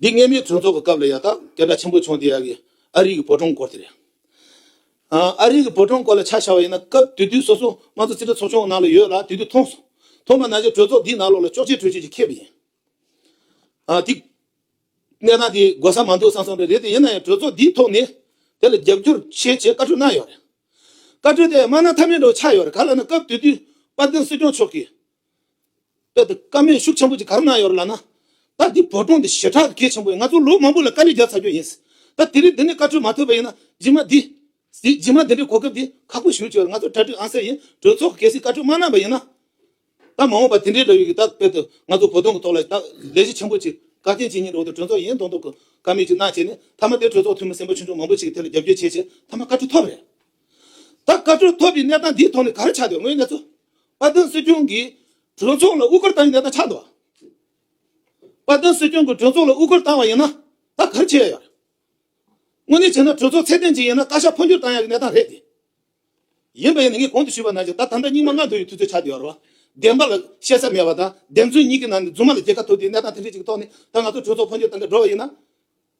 འདི་སྔས་མའི་གྲོས་ཚོགས་ཀྱི་སྐབས་ལ་ཡག་ཐག་སྐད་སྒྲ་ཆེན་པོ་བྱུང་དེ་ཡག་གི་ཨ་རིག་གི་བོད་གྲོང་སྐོར་དེ་རེད། ཨ་རིག་གི་བོད་གྲོང་སྐོར་ལ་ཆ་བཞག་པ་ཡིན་ན་སྐབས་དུས་དུས་སོ་སོ་ང་ཚོ་རྩིས་ཁྲ་ཚོགས་ཆུང་གི་ནང་ལ་ཡོད་ལ་དུས་དུས་མཐོང་སོང་མཐོང་པ་ན་ཆ་གྲོས་ཚོགས་འདིའི་ནང་ལོགས་ལ་ཅོག་ཅེ་གྲོས་ཆོད་ཅིག་ཁེབས་པ་ཡིན། དེ་གནས་སྟངས་དེ་དགོས་ས་མ་འདུག་བསམ་སོང་རེད་དེ་ཡིན་ན་ཡང་གྲོས་ཚོགས་འདིའི་ཐོག་ནས་དེ་ལ་རྒྱབ་སྐྱོར་བྱེད་ཅེས་བཀའ་འཁྲོལ་གནང་ཡོད་རེད། བཀའ་འཁྲོལ་དེ་དམའ་ན་མཐའ་མེད་འགྲོ་བ་ཆགས་ཡོད་རེད་ག་ལ་ན་སྐབས་དུས་དུས་དཔལ་ལྡན་སྲིད་སྐྱོང་མཆོག་གིས་དེ་ལྟར་བཀའ་མོལ་ཤུགས་ཆེན་པོ་གཅིག་ག་རེ་གནང་ཡོད་རེད་ལབ་ན། ད་འདི་བོད་གྲོང་འདི་ཞེ་དྲག་གི་གལ་ཆེན་པོ་ཡིན་ང་ཚོ་ལོ་མང་པོ་ལ་དཀའ་ལས་རྒྱབ་ཚར་རྒྱུ་ཡིན། ད་དེ་རིང་འདི་ནས་བཀའ་ཁྲོལ་མ་ཐོབ་པ་ཡིན་ན་རྗེས་མ་འདི། རྗེས་མ་འདི་འདྲའི་གོ་སྐབས་འདི་ཁག་པོ་ཞུ་ཆོག་ང་ཚོ་གྲ་སྒྲིག་ཨང་གསལ་ཡིན་གྲོས་ཚོགས་ཀྱི་གལ་སྲིད་བཀའ་ཁྲོལ་མ་གནང་པ་ཡིན་ན། ད་མ་འོངས་པ་དེ་འདྲའི་ལོ་ཡོད་ཀྱི་ད་དཔེར་དུ་ང་ཚོ་བོད་གྲོང་གི་ཐོག་ལ་ད་ལས་གཞི་ཆེན་པོ་གཅིག་བཀའ་བསྟན་སྤྱི་གཉིས་འགྲོ་འདུག་གྲོས་ཚོགས་ཡིན་མདོག་མདོག་གི་བཀའ་མོལ་གཅིག་གནང་བྱས་ནས་མཐའ་མ་དེ་གྲོས་ཚོགས་འཐུས་མི་སེམས་པ་ཆུང་ཆུང་མང་པོ་ཅིག་གི་ཐད་ལ་རྒྱབ་སྐྱོར་བྱས་རྗེས་མཐའ་མ་བཀའ་ཁྲོལ་ཐོབ་རེད། ད་བཀའ་ཁྲོལ་ཐོབ་པའི་གནས་སྟངས་འདིའི་ཐོག་ནས་ག་རེ་ཆགས་འདུག་དངོས་གནས་གཙོ་བ་དོན་སྲིད་སྐྱོང་གིས་གྲོས་ཚོགས་ལ་དབུ་སྐོར་བཏང་བའི་གནས་སྟངས་ཆགས་འདུག་བ་དོན་སྲིད་སྐྱོང་གིས་གྲོས་ཚོགས་ལ་དབུ་སྐོར་བཏང་བ་ཡིན་ན་ད་ག་རེ་བྱེད་ཡ་ཡོད། དངོས་གནས་བྱས་ན་གྲོས་ཚོགས་ཚད་ལྡན་ཅིག་ཡིན་ན་བཀའ་ཤག་འཕོ་འགྱུར་བཏང་ཡ་གི་གནས་སྟངས་རེད་དེ། ཡིན་པ་ཡིན་ན་ངས་གོང་དུ་ཞུས་པ་ནང་བཞིན་ད་དམ་དྲག་སྙིང་མ་ལྔ་འདུ་བའི་དུས་ཚོད་ཆགས་འདུག་བ་རོ། བདེན་པ་ལ་བཤད་ས་མེད་པ་དང་བདེན་རྫུན་གཉིས་ཀྱི་ནང་ནས་རྫུན་མ་ལ་རྒྱལ་ཁ་ཐོབ་དུས་གནས་སྟངས་དེ་འདྲ་ཅིག་གི་ཐོག་ནས་ད་ང་ཚོ་གྲོས་ཚོགས་འཕོ་འགྱུར་བཏང་གི་འགྲོ་བ་ཡིན་ན།